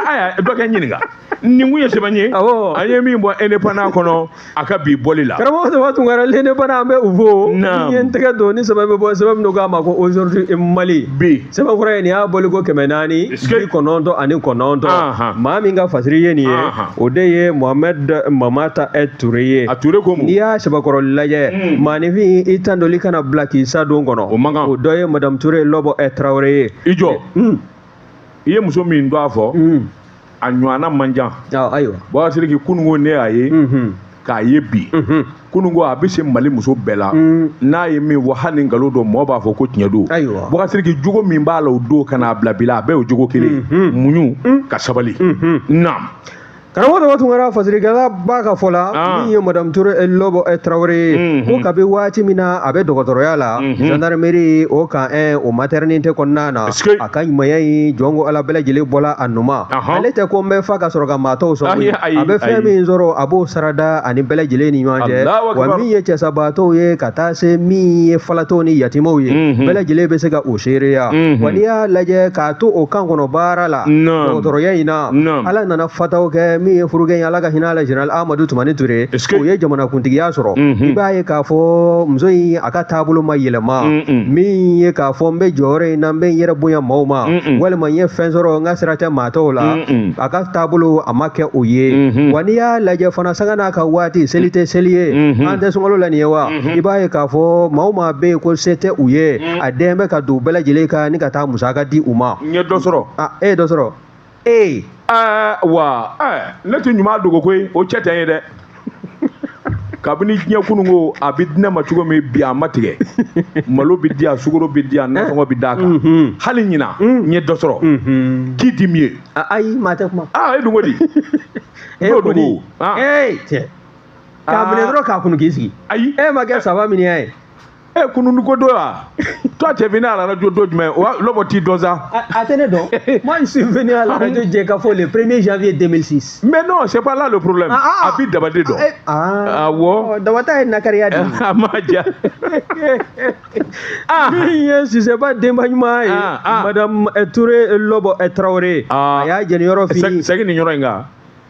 aya dɔ kɛ ɲininka nin kun ye sɛbɛn ye an ye min bɔ indépendant kɔnɔ a ka bi bɔli la karamɔgɔ daba tunkara l'indépendant an bɛ u fo n ye n tɛgɛ don ni sɛbɛn bɛ bɔ sɛbɛn min don k'a ma ko aujourd'hui mali bi sɛbɛn kura ye nin y'a bɔli ko kɛmɛ naani bi kɔnɔntɔn ani kɔnɔntɔn maa min ka fasiri ye nin ye o de ye mohamɛd mamata ɛ ture ye a ture ko n'i y'a sɛbɛkɔrɔ lajɛ hmm. maaninfin i tandoli kana bila k'i sa don kɔnɔ o dɔ ye madamu ture lɔbɔ ɛ tarawele ye i jɔ hmm. i ye muso min dɔn a fɔ hmm. a ɲɔgɔnna man ca ayiwa baba sidiki kunun ko ne y'a ye k'a ye bi kunun ko a bɛ se mali muso bɛɛ la n'a ye min wa hali ni nkalon don mɔgɔ b'a fɔ ko tiɲɛ don baba sidiki jogo min b'a la o don ka n'a bila bi la a bɛɛ y'o jogo kelen muɲu ka sabali na karamɔgɔ daba tunkara fasirikɛla b'a ka fɔ la min ye madamu ture lɔbɔ tarawele ye ko kabi waati min na a bɛ dɔgɔtɔrɔya la gendarmerie o kan o maternité kɔnɔna na a ka ɲumanya in jɔn ko ala bɛɛ lajɛlen bɔla a nun ma ale tɛ ko n bɛ fa ka sɔrɔ ka maa tɔw sɔn a bɛ fɛn min sɔrɔ a b'o sarada ani bɛɛ lajɛlen ni ɲɔgɔn cɛ wa min ye cɛsabaatɔw ye ka taa se min ye falatɔw ni yatimaw ye bɛɛ lajɛlen bɛ se ka o seereya wa n'i y'a lajɛ k'a to o kan kɔnɔ baara la dɔgɔtɔrɔya in na ala nana fataw kɛ min ye furukɛ ye ala ka hinɛ la general amadu tumani ture o ye jamanakuntigiya sɔrɔ i b'a ye k'a fɔ muso in a ka taabolo ma yɛlɛma min ye k'a fɔ n bɛ jɔyɔrɔ in na n bɛ n yɛrɛ bonya maaw ma walima n ye fɛn sɔrɔ n ka sira tɛ maa tɔw la a ka taabolo a ma kɛ o ye wa n'i y'a lajɛ fana sanga n'a ka waati seli tɛ seli ye an tɛ sunkalo la nin ye wa i b'a ye k'a fɔ maa o maa bɛ yen ko se tɛ u ye a den bɛ ka don u bɛɛ lajɛlen kan ni ka taa musaka di u ma n ye dɔ sɔrɔ e ye dɔ sɔrɔ ee aa wa ɛɛ ne tɛ ɲuman dogo koyi o cɛ tɛ n ye dɛ kabini diɲɛ kunun ko a bɛ di ne ma cogo min bi a ma tigɛ malo bɛ di yan sukaro bɛ di yan nasɔngɔ bɛ d'a kan Mhm. hali ɲina n ye dɔ sɔrɔ Mhm. k'i di min ye A- ayi maa tɛ kuma aa e dun ko di e n'o kɔni dogo aa ee cɛ k'a minɛ dɔrɔn k'a kunu k'i sigi ayi e ma kɛ saba min y'a ye e kunun ko don wa toi tu es venu à la radio don jumɛn o lɔbɔ t'i dɔn sa. a tɛ ne dɔn moi je suis venu à la radio jɛkafo le premier janvier 2006. mais non c'est pas là le problème ah, ah. a bɛ daba de dɔn. awɔ daba ta ye nakariya de ye. a ma ja. min ye sisɛba denba ɲuman ye ah, ah. madame eh, Toure eh, lɔbɔ eh, Traoré a y'a jɛni yɔrɔ fini. segin nin yɔrɔ in kan.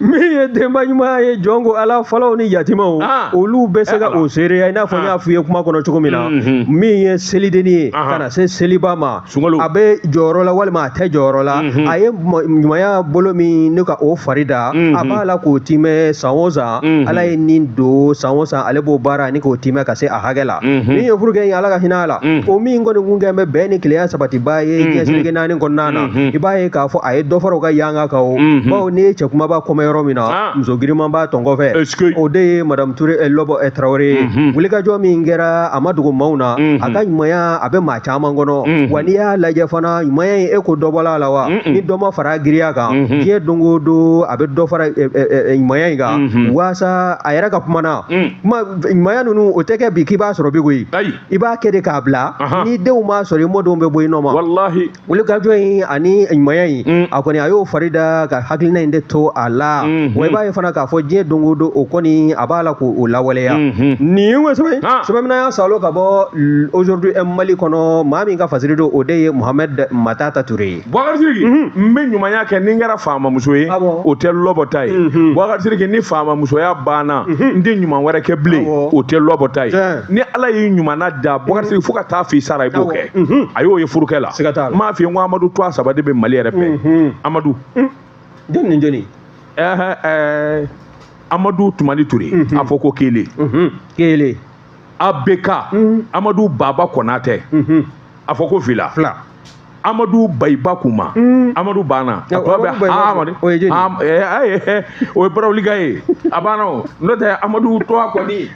min ye denba ɲuman ye jɔn ko ala falaw ni yatimaw ah. olu bɛ se ka eh, o seereya i n'a fɔ n y'a ah. f'i ye kuma kɔnɔ cogo min na mm, mm. min ye selidenni ye ka na se seliba ma a bɛ jɔyɔrɔ la walima a tɛ jɔyɔrɔ la mm-hmm. a ye ɲumanya bolo minɛ ka o fari da mm-hmm. a b'a la k'o timɛ san o san mm-hmm. ala ye nin don san o san ale b'o baara ani k'o timɛ ka se a hakɛ la min ye furukɛ ye ala ka hinɛ a la mm. o min kɔni kun kɛ bɛ bɛn ni kelenya sabatibaa ye diɲɛ seleke naani kɔnɔna na i b'a ye k'a fɔ a ye dɔ fara u ka yan ka kan o mhm. bawo n'i ye cɛ kumaba ko mɛn yɔrɔ min na ah. muso giriman b'a tɔn kɔfɛ o de ye madamu ture eh, lɔbɔ eh, tarawele ye mhm. wulikajɔ min kɛra a ma dogo maaw na mhm. a ka ɲumanya a bɛ maa caman kɔnɔ wa n'i y'a lajɛ fana ɲumanya in e ko dɔ bɔla a la wa ni dɔ ma fara giriya kan diɲɛ don o don a bɛ dɔ fara eh, ɲumanya in kan waasa a yɛrɛ ka kuma na ɲumanya ninnu o tɛ kɛ bi k'i b'a sɔrɔ bi koyi i b'a kɛ de k'a bila n'i denw m'a sɔrɔ i mɔdenw bɛ bɔ i nɔ ma wulikajɔ in ani ɲumanya in mm. a kɔni a y'o fari da ka hakilina in de to a la mm-hmm. wa i b'a ye fana k'a fɔ diɲɛ don o don o kɔni a b'a la k'o lawaleya mm-hmm. nin ye ŋo sɛbɛn sɛbɛn min y'a salo ka bɔ aujourd'hui mali kɔnɔ maa min ka fasiri don o de ye mohamed matata ture ye bubakari siriki mm-hmm. n bɛ ɲumanya kɛ ni n kɛra faamamuso ye ah o tɛ lɔbɔ ta ye bubakari siriki ni faamamusoya banna n tɛ ɲuman wɛrɛ kɛ bilen ah o tɛ lɔbɔ ta ye ni ala y'i ɲumanna da bubakari siriki fo ka taa f'i sara i b'o kɛ mhm. a y'o ye furukɛ la siga t'a la n m'a f'i ye n ko amadu tɔgɔ saba de bɛ mali yɛrɛ fɛ mhm. amadu mm. jɔni ni jɔni ɛɛ ɛɛ amadu tumani ture mhm. a fɔ ko kelen kelen abk amadu baba kɔnatɛ a fɔ ko fila fila amadu bayiba kuma mm. amadu banna a tɔ bɛɛ amadu o ye barawulika ye a banna o n'o tɛ amadu tɔgɔ kɔni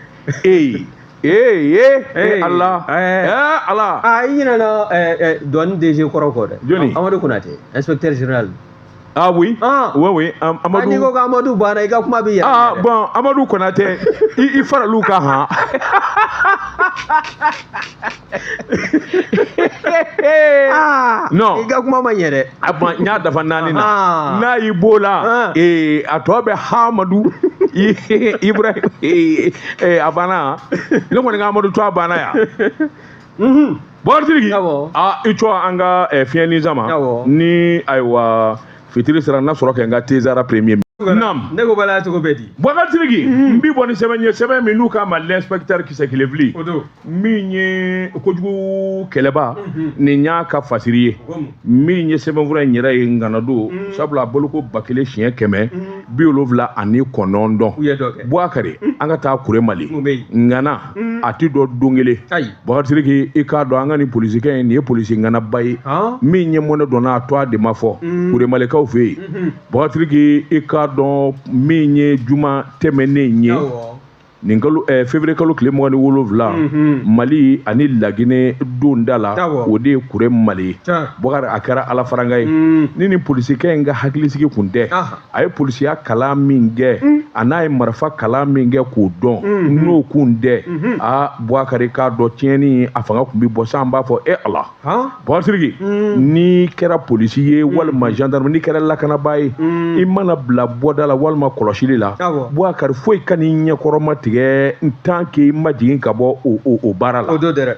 ee ee ee ee ala ee ala aa i ɲinɛna douane DG kɔrɔ kɔ dɛ jɔni Amadu Konate inspecteur général Ah oui Ah Oui, oui. Am Amadou... N'i ko Amadou banna i ka kuma bɛ yɛlɛ. Ah bon Amadou Konate i i faral'u kan han. Ah, non i ka kuma ma ɲɛ dɛ a ban n y'a dafa naani na Ah. n'a y'i b'o la Ah. ee, a tɔ bɛɛ hamadu i- ibrahim ee, ee, a banna ne kɔni ka amadu tɔgɔ banna yan bɔkari siriki Awɔ. aa i cɔ an ka eh, fiɲɛni sama Awɔ. ni ayiwa fitiri sera n na sɔrɔ kɛ n ka tezara premier Nam. Ne ko bala cogo bɛ di. Bɔkari Sidiki. N bi bɔ ni sɛbɛn ye sɛbɛn min n'u k'a ma l'inspecteur kisɛ kelen fili. O don. Min ye kojugu kɛlɛbaa. Nin y'a ka fasiri ye. Min ye sɛbɛnfura in yɛrɛ ye ŋana don. Sabula a boloko ba kelen siɲɛ kɛmɛ. Bi wolonwula ani kɔnɔntɔn. U ye dɔ kɛ. Bɔkari an ka taa kure mali. Ŋana. mm. a ti dɔ don kelen bakarisidiki i k'a dɔn an ka ni polisikɛ ye nin ye polisi ŋanaba ye min ye mɔnɛ dɔnna a tɔɔ de ma fɔ mm. kuremalikaw fɛ yen mm-hmm. bakarisidiki i k'a dɔn min ye juma tɛmɛnen ye nin kalo eh, fevrier kalo tile mugan ni wolonwula mm -hmm. mali ani lagine donda la o de ye kuremali ye bɔkari a kɛra alafaranga ye mm. ni nin polisikɛ in ka hakilisigi kun tɛ ah. a ye polisiya kalan min kɛ mm. an'a ye marifa kalan min kɛ k'o dɔn mm-hmm. n'o kun tɛ mm-hmm. a buwakari k'a dɔn tiɲɛni a fanga kun bi bɔ san b'a fɔ e ala bakarisidiki mm. n'i kɛra polisi ye mm. walima gendarme n'i kɛra lakanabaa ye i mana bila bɔda la walima kɔlɔsili la buwakari foyi kan'i ɲɛkɔrɔma tigɛ tant qu'i ma jigin ka bɔ o baara la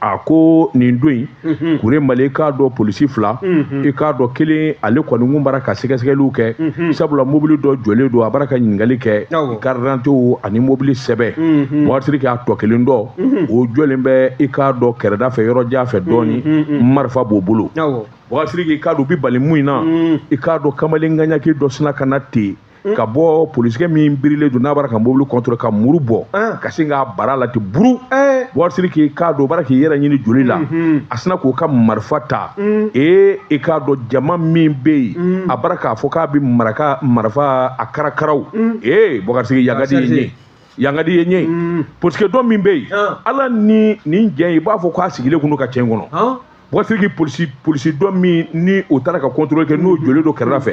a ko nin don in mhm. kuremali i k'a dɔn polisi fila mhm. i k'a dɔn kelen ale kɔni kun bara ka sɛgɛsɛgɛliw kɛ mhm. sabula mobili dɔ jɔlen don a bara ka ɲininkali kɛ i karidantew ani mobili sɛbɛn bakarisidiki a tɔ kelen dɔ o jɔlen bɛ i k'a dɔn kɛrɛda fɛ yɔrɔ jan fɛ dɔɔni marifa b'o bolo bakarisidiki i k'a dɔn u bi bali mun in na i k'a dɔn kamalen ŋaɲaki dɔ sina ka na ten hmm? ka bɔ polisikɛ min birilen don n'a bara ka mobili contrôler ka muru bɔ hmm. ka sin k'a bara la ten buru eh. bakarisidiki i k'a dɔn bara k'i yɛrɛ ɲini joli la hmm, a sina k'o ka marifa ta ee i k'a dɔn jama min bɛ yen a bara k'a fɔ k'a bɛ maraka marifa a karakaraw ee bakarisidiki yagadi ye yangadi ye ɲɛ ye polisikɛ dɔ min bɛ yen ala ni nin jɛn i b'a fɔ k'a sigilen kun don ka cɛ in kɔnɔ bakarisidiki polisi polisi dɔ min ni o taara ka contrôle kɛ n'o jɔlen don kɛrɛda fɛ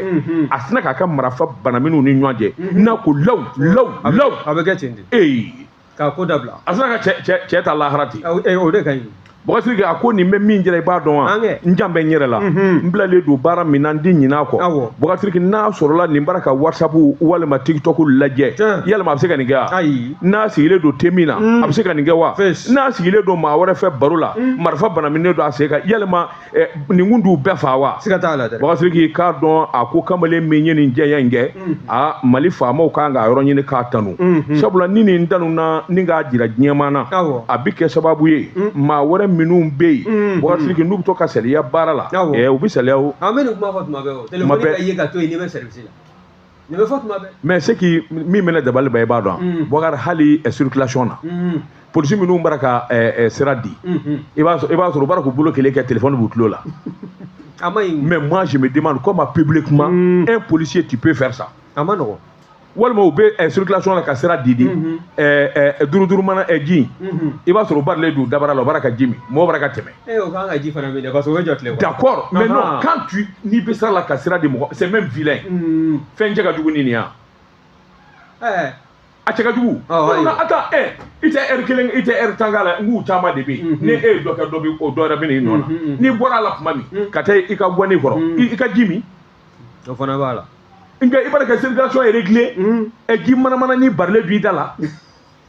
a sina k'a ka marafa banamini u ni ɲɔgɔn cɛ n'a ko law law law a bɛ kɛ ten de ee k'a ko dabila a sina ka cɛ cɛ cɛ ta lahara ten o de ka ɲi Bakarisidiki a ko nin bɛ min jira i b'a dɔn wa n jan bɛ n yɛrɛ la n bilalen don baara min na n di ɲin'a kɔ Bakarisidiki n'a sɔrɔla nin bara ka whatsapp walima tiktok lajɛ yalima a bɛ se ka nin kɛ wa n'a sigilen don te min na a bɛ se ka nin kɛ wa n'a sigilen don maa wɛrɛ fɛ baro la marifa banaminen don a sen kan yalima Eh, nin kun t'u bɛɛ faa wa siga t'a la dɛ bakarisidiki i k'a dɔn a ko kamalen min ye nin cɛya in kɛ mm. a mali faamaw kan k'a yɔrɔ ɲini k'a tanu mm-hmm. sabula ni nin tanuna ni k'a jira diɲɛma na a bɛ kɛ sababu ye mm. maa wɛrɛ minnu bɛ yen mm-hmm. bakarisidiki n'u bɛ to ka saliya baara la eh, u bɛ saliya o an bɛ nin kuma fɔ tuma bɛɛ o telefɔni ka ye ka to yen n'i bɛ sɛrivisi la nin bɛ fɔ tuma bɛɛ mais ce qui min bɛ ne dabali ban i b'a dɔn bɔkari hali circulation na polisi minnu bara ka sira di i b'a sɔrɔ u bara k'u bolo kelen kɛ telefɔni b'u tulo la a man ɲi mais moi je me demande comment publiquement un policier tu peux faire ça a man nɔgɔn walima u bɛ circulation la ka sira di di duuru duuru mana ji i b'a sɔrɔ u barilen don dabara la u bara ka ji min mɔgɔ bara ka tɛmɛ Eh, o kan ka ji fana min dɛ parce que o bɛ jɔ tile kɔrɔ. d'accord mais non quand tu n'i bɛ sira la ka sira di mɔgɔ c'est même vilain. Mm. fɛn cɛ ka jugu ni nin ye. Eh. a cɛ ka jugu. awɔ ayiwa attends eh i tɛ heure kelen i tɛ heure tan k'a la n k'u caman de bɛ yen. ni e ye dɔ kɛ dɔ bɛ o dɔ yɛrɛ bɛ na i nɔ na n'i bɔra a la tuma min mm. ka taa i ka gwani kɔrɔ mm. i ka ji min. o fana b'a la. nka i b'a dɔn ka circulation est réglée. ɛ ji mana manani barilen don i da la.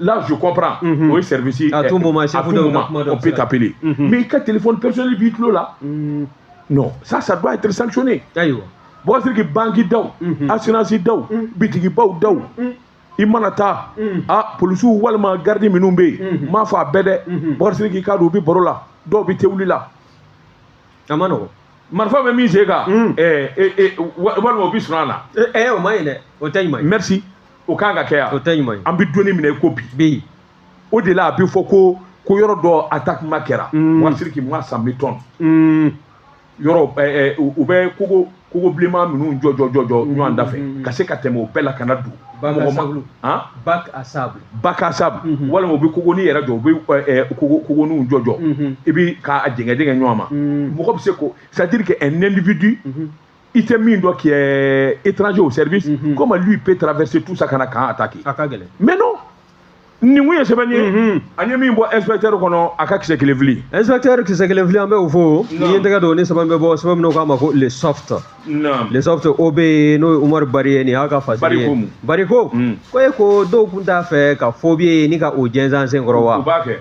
là je comprends mhm. o ye service à tout moment à tout moment on peut t'appeler mhm. mais i ka téléphone personnel b'i tulo la mhm. non ça ça doit être sanctionné ayiwa Bokar Siriki banki daw assurance daw bitigibaw daw i mana taa a polisiw walima garidi minnu bɛ yen n m'a fɔ a bɛɛ dɛ Bokar Siriki ka dɔw bɛ baro la dɔw bɛ te wuli la a man nɔgɔn marifa bɛ min sen kan walima o bɛ sunɔgɔ la o man ɲi dɛ o tɛ ɲuman ye merci o kan ka kɛ yan o tɛ ɲuman ye an bɛ don min na i ko bi bi o de la a bɛ fɔ ko ko yɔrɔ dɔ attaque ma kɛra mm. wa Siriki ma cent mille tonnes mm. yɔrɔ eh, eh, u bɛ kogo kogo bilenman minnu jɔ jɔ jɔ jɔ mm. ɲɔgɔn da fɛ mm. ka se ka tɛmɛ o bɛɛ la ka na don mɔgɔ ma han bac à sable bac à sable mm-hmm. walima u bɛ kogoni yɛrɛ jɔ u bɛ eh, kogo kogoniw jɔ jɔ mm-hmm. i bɛ k'a jɛngɛ jɛngɛ ɲɔgɔn ma mm. mɔgɔ bɛ se ko c'est à dire que un individu mm-hmm. i tɛ min dɔn qui est étranger au service mm -hmm. comment lui peut traverser tout ça ka na camp attaquer a ka gɛlɛn mais non nin ko ye sɛbɛ ye mhm. an ye min bɔ inspecteur kɔnɔ a ka kisɛ kelen fili inspecteur kisɛ kelen fili an bɛ o fo n'i ye tɛgɛ don ni sɛbɛn bɛ bɔ sɛbɛn min k'a ma ko Le Soft Le Soft o bɛ yen n'o ye Umaru Bari ye nin y'a ka fasiri ye Bari ko ko e ko dɔw tun t'a fɛ ka faux billet nin ka o jɛnsɛn sen kɔrɔ wa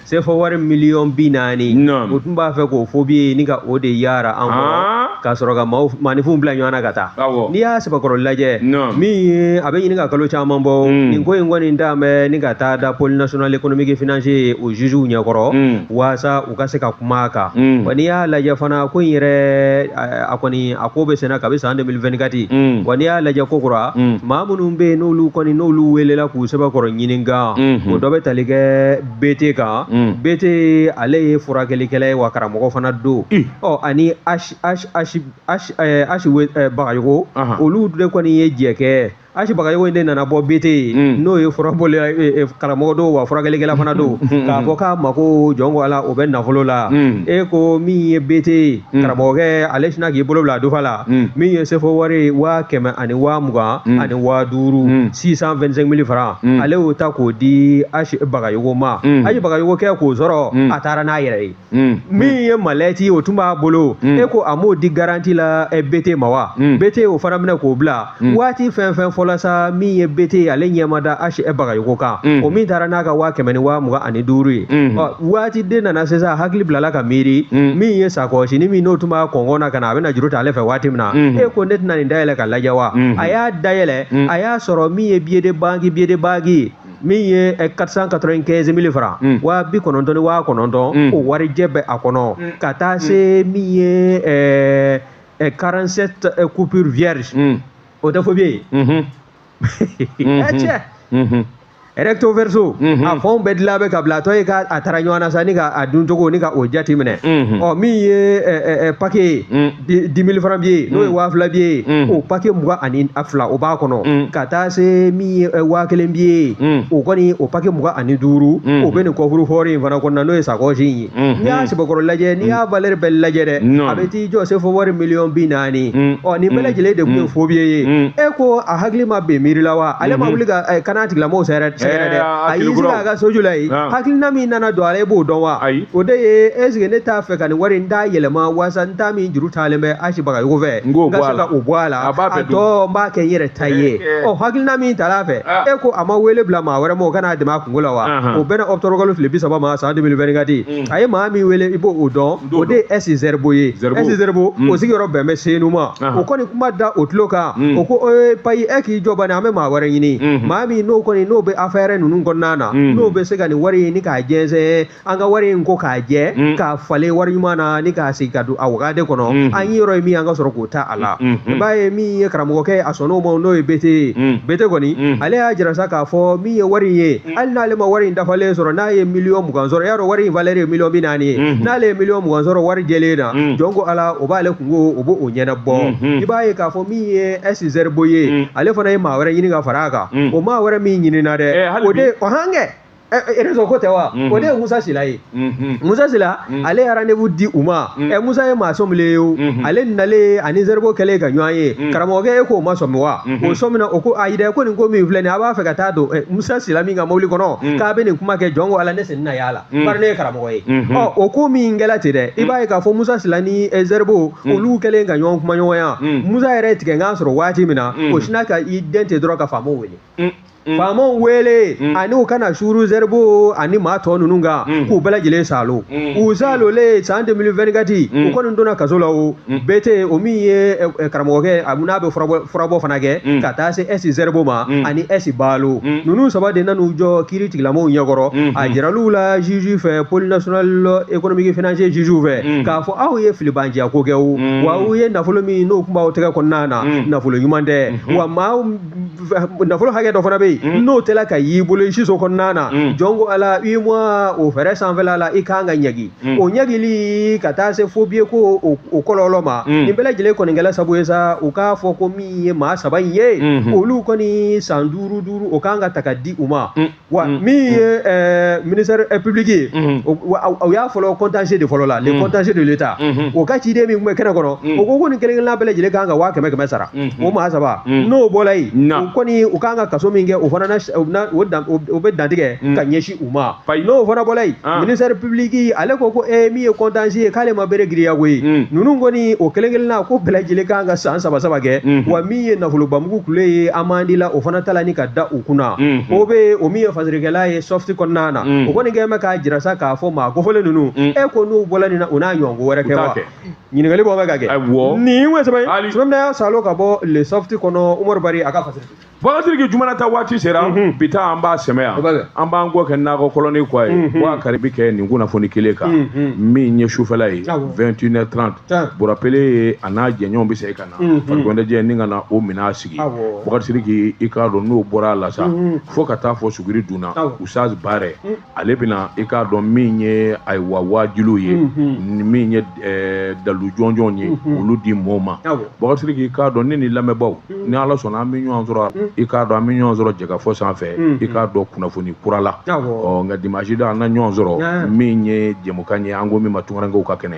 sefa wari miliyɔn bi naani u tun b'a fɛ k'o faux billet nin ka o de yaara an kɔrɔ ka sɔrɔ ka maaninfinw bila ɲɔgɔn na ka taa n'i y'a sɛbɛkɔrɔ lajɛ min a bɛ ɲini ka kalo caman bɔ nin ko in kɔni d'a mɛn ni ka taa da pôle national économique et financier yen o jugew ɲɛkɔrɔ walasa u ka se ka kuma a kan mm. wa n'i y'a lajɛ fana ko in yɛrɛ a kɔni a ko bɛ senna kabi san 2024 mm. wa n'i y'a lajɛ ko kura mm. maa minnu bɛ yen n'olu kɔni n'olu welela k'u sɛbɛkɔrɔ ɲininka mm-hmm. o dɔ bɛ tali kɛ BT kan BT ale ye furakɛlikɛla ye wa karamɔgɔ fana don ɔ ani H H H H H Bagayogo olu de kɔni ye jɛkɛ H Bagayogo in de nana bɔ BT yen n'o ye furabɔla ye karamɔgɔ don wa furakɛlikɛla fana don k'a fɔ k'a mago jɔn ko Ala o bɛ nafolo la e ko min ye BT ye karamɔgɔkɛ ale sinna k'i bolo bila a dufa la min ye sefa wari ye waa kɛmɛ ani waa mugan ani waa duuru six cent vingt cinq mille francs ale y'o ta k'o di H Bagayogo ma H Bagayogo kɛ k'o sɔrɔ a taara n'a yɛrɛ ye. Mm. min ye malɛti o tun b'a bolo mm. e ko a m'o di garanti la eh, bete ma wa mm. bete o fana minɛ k'o bila waati fɛn fɛn fɔla sa min ye bete ale ɲɛmada ashi bagayogo kan o min taara n'a ka waa kɛmɛ ni waa mugan ani duuru ye waati de nana sisan hakili bilala ka miiri min ye sakɔsi ni min n'o tun b'a kɔngɔn na ka na a bɛna juru ta ale fɛ waati min na mm-hmm. e ko ne tɛna nin dayɛlɛ ka lajɛ wa mm-hmm. a y'a dayɛlɛ mm-hmm. a y'a sɔrɔ min ye billet de banque billet de banque min ye 495 eh, mille francs mm. waa bi kɔnɔntɔn ni waa kɔnɔntɔn o mm. warijɛ bɛ a kɔnɔ mm. ka taa se min ye 47 eh, eh, coupure vierge o tɛ faux billet ye mm-hmm. mm-hmm. cɛ mm-hmm. recto verso a fɛnw bɛɛ dilan bɛ ka bila a tɔ ye ka a tara ɲɔgɔn na sa ni ka a duncogo ni ka o jate minɛ ɔ min ye pake ye dix mille francs billet n'o ye mm. waa fila billet mm. o pake mugan ani a fila o b'a kɔnɔ mm. ka taa se min ye eh, waa kelen billet o kɔni o pake mugan ani duuru o bɛ nin coffre-fort in fana kɔnɔna n'o ye sakɔsi in ye mm-hmm. n'i y'a sɛbɛkɔrɔ lajɛ n'i y'a valɛri bɛɛ lajɛ dɛ a bɛ t'i jɔ sefa wari miliyɔn bi naani ɔ nin bɛɛ lajɛlen de tun ye faux billet ye e ko a hakili ma bɛn miiri la wa ale ma mm-hmm. wuli ka eh, kan'a tigilamɔgɔw sɛgɛrɛ eh, sɛgɛrɛ dɛ a y'i sigi a ka soju la yen hakilina min nana don a la i b'o dɔn wa o de ye est ce que ne t'a fɛ ka nin wari in da yɛlɛma waasa n t'a min juru talen bɛ ashi bagayogo fɛ n k'o bɔ a la o bɔ a la a tɔ n b'a kɛ n yɛrɛ ta ye ɔ hakilina min tal'a fɛ ah. e ko a ma wele bila maa wɛrɛ ma o ka n'a dɛmɛ a kunko la wa o bɛnna ɔkutɔburukalo tile bi saba ma san 2024 mm. a ye maa min wele i b'o dɔn o de ye ɛsi zɛribo ye ɛsi zɛribo mm. o sigiyɔrɔ bɛn bɛ senu ma o kɔni kuma da o tulo kan mm. o ko ee payi e k'i jɔ bani an bɛ maa wɛrɛ ɲini mm-hmm. maa min n'o kɔni n'o bɛ affaire ninnu kɔnɔna na n'o bɛ se ka nin wari ɲini k'a jɛnsɛn an ka wari in ko k'a jɛ mm. k'a falen wari ɲuman na ni k'a sigi ka don a wagade kɔnɔ mm-hmm. an niyɔrɔ ye min an ka sɔrɔ k'o ta a la i mm-hmm. mm-hmm. b'a ye min ye karamɔgɔkɛ a sɔnn'o ma n'o ye bete ye mm. bete kɔni mm. ale y'a jira sa k'a fɔ min ye wari in ye hali n'ale ma wari in dafalen sɔrɔ n'a ye miliyɔn mugan sɔrɔ i y'a dɔn wari in valɛri ye miliyɔn bi naani ye n'ale ye miliyɔn mugan sɔrɔ wari jɛlen na jɔn ko ala o b'ale kunko o b'o ɲɛnabɔ i b'a ye k'a fɔ min ye ɛsi zɛribo ye ale fana ye maa wɛrɛ ɲini ka fara a kan o maa wɛrɛ min ɲinina dɛ eh, o de o hankɛ rezo ko tɛ wa o de ye musa sila ye musa sila ale ye rendez-vous di u ma ɛ musa ye maa sɔminen ye o ale nalen ani zɛribo kɛlen ka ɲɔgɔn ye karamɔgɔkɛ e k'o ma sɔmi wa o sɔmina o ko ayi dɛ ko nin ko min filɛ nin a b'a fɛ ka taa don musa sila min ka mobili kɔnɔ k'a bɛ nin kuma kɛ jɔn ko ala ne sen na y'a la bari ne ye karamɔgɔ ye ɔ o ko min kɛla ten dɛ i b'a ye k'a fɔ musa sila ni zɛribo olu kɛlen ka ɲɔgɔn kuma ɲɔgɔnya musa yɛrɛ tigɛ n k'a sɔrɔ waati min na o sina ka i den ten dɔrɔn ka faamaw wele Mm, mm. faamaw wele Mm. ani u ka na suuru zɛribo ani maa tɔ ninnu kan Mm. k'u bɛɛ lajɛlen salo Mm. u salolen san 2024 Mm. u kɔni donna kaso la o Mm. bɛɛ tɛ yen o min ye ɛ, ɛ, karamɔgɔkɛ a n'a bɛ furabɔ furabɔ fana kɛ Mm. ka taa se ɛsi zɛribo ma Mm. ani ɛsi balo Mm. ninnu saba de nan'u jɔ kiiritigɛlamɔgɔw ɲɛkɔrɔ Mm. a jiral'u la juge fɛ pôle national économique financier juge fɛ Mm. k'a fɔ aw ye filibanciya ko kɛ o Mm. wa aw ye nafolo min n'o kun b'aw tɛgɛ kɔnɔna na Mm. nafolo ɲuman tɛ Mhm. wa maa nafolo hakɛ dɔ fana bɛ yen mm. n'o tɛla ka y'i bolo i siso kɔnɔna na mm. jɔn ko ala i ma o fɛɛrɛ sanfɛla la i kan ka ɲagi mm. o ɲagili ka taa se faux billet ko o kɔlɔlɔ ma nin bɛɛ lajɛlen kɔni kɛla sabu ye sa u k'a fɔ ko min ye maa saba in ye mm-hmm. olu kɔni san duuru duuru o kan ka ta ka di u ma wa mm. min ye mm. eh, ministère eh, public ye mm-hmm. o y'a fɔlɔ contentieux de fɔlɔla le mm. contentieux de l'état mm-hmm. o ka ciden min tun bɛ kɛnɛ kɔnɔ o ko ko nin kelen-kelenna bɛɛ lajɛlen kan ka waa kɛmɛ kɛmɛ sara mm-hmm. o maa saba n'o bɔla yen o kɔni u kan ka kaso min kɛ o fana na o bɛ dantigɛ ka ɲɛsin u ma n'o fana bɔla yen ah. ministère public ale ko ko ee eh, min ye contentieux ye k'ale ma bere giriya ko ye ninnu kɔni o kelen-kelenna ko bɛɛ lajɛlen kan ka san saba saba kɛ wa min ye nafolobamugu kule ye amende la o fana tala ni ka da u kunna mhm. o bɛ o min ye fasirikɛla ye Soft kɔnɔna na mhm. o kɔni kɛ bɛ k'a jira sa k'a fɔ maa kofɔlen ninnu mhm. e ko n'u bɔla nin na u n'a ɲɔgɔn ko wɛrɛ kɛ wa ɲininkali bɔ bɛ ka kɛ nin ye sabu ne y'a salo ka bɔ le Soft kɔnɔ umaru bari a ka fasiri Bukari Sidiki juma na ta waati sera bi ta an b'a sɛmɛ yan an b'an kɔ kɛ nakɔ kɔlɔni kɔ ye wa kari bɛ kɛ nin kunnafoni kelen kan min ye sufɛla ye 21 h 30 Bura Pele ye a n'a jɛɲɔgɔn bɛ se ka Mhm. farikoloɲɛnajɛ ni ka na o minɛn a sigi Awɔ. Bukari Sidiki i k'a dɔn n'o bɔra a la sa Mhm. fo ka taa fɔ suguri dun na Awɔ. Usaz Bare Mhm. ale bɛna i k'a dɔn min ye ayiwa waajuliw ye Mhm. ni min ye eh, dalu jɔnjɔnw ye Mhm. olu di mɔɔw ma Awɔ. Bukari Sidiki i k'a dɔn ne ni lamɛnbaaw Mhm. ni Ala sɔnna an bɛ ɲɔgɔn sɔrɔ Mhm. i k'a dɔn an bɛ ɲɔgɔn sɔrɔ Jɛkafɔ sanfɛ Mhm. i k'a dɔn kunnafoni kura la Awɔ. ɔ nka dimanche don an na ɲɔgɔn sɔrɔ Yan. min ye jɛmukan ye an ko min ma tunkarankew ka kɛnɛ